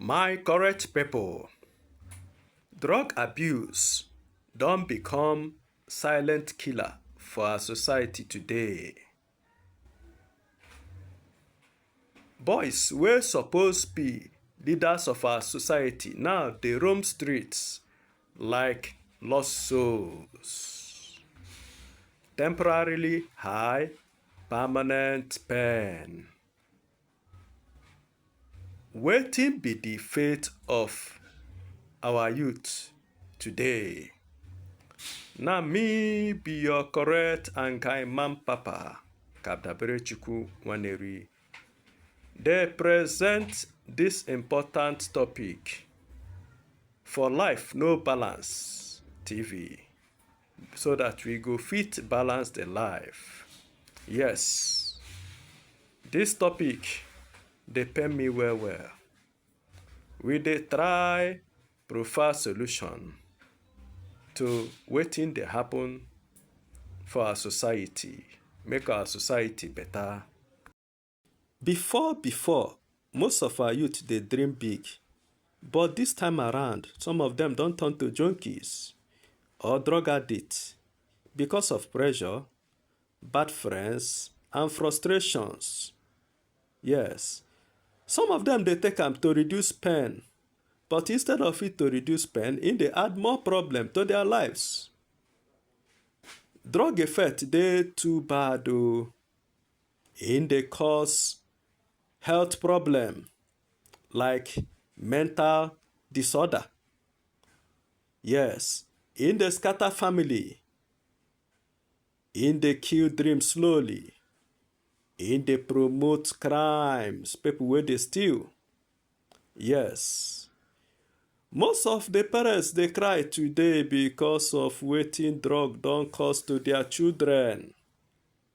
My correct people, drug abuse don become silent killer for our society today. Boys wey suppose be leaders of our society now dey roam streets like lost souls. Temporarily high, permanent pain. Wetin be the fate of our youth today? Na me be your correct and kind man papa, Kadabere Chukwu Waneri. They present this important topic for Life No Balance TV. so that we go fit balance the life. Yes, this topic dey pain me well well. We dey try provide solution to wetin dey happen for our society, make our society better. Before before, most of our youth dey dream big, but this time around, some of them don turn to junkies or drug addicts because of pressure, bad friends, and frustrations. Yes, some of them dey take am to reduce pain, but instead of it to reduce pain, it dey add more problem to their lives. Drug effect dey too bad o. Oh. E dey cause health problem like mental disorder. Yes, e dey scatter family, e dey kill dream slowly, e dey promote crimes, people wey dey steal. Yes, most of the parents dey cry today because of wetin drug don cause to their children.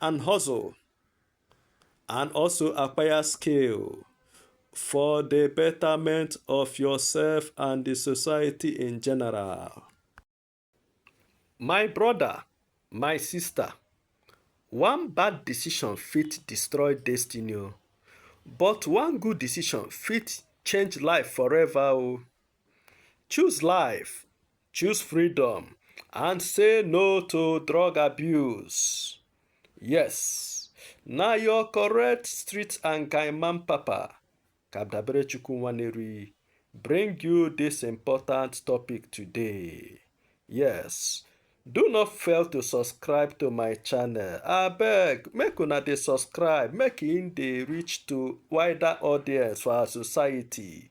and hustle and also acquire skill for the betterment of yourself and the society in general. My brother, my sister, one bad decision fit destroy destiny oh. but one good decision fit change life forever oh. Choose life, choose freedom, and say no to drug abuse. Yes, now your correct street and Kaiman Papa, Kabdabere Chukwuwaneri, bring you this important topic today. Yes, do not fail to subscribe to my channel. I beg, make una dey subscribe, make in dey reach to wider audience for our society.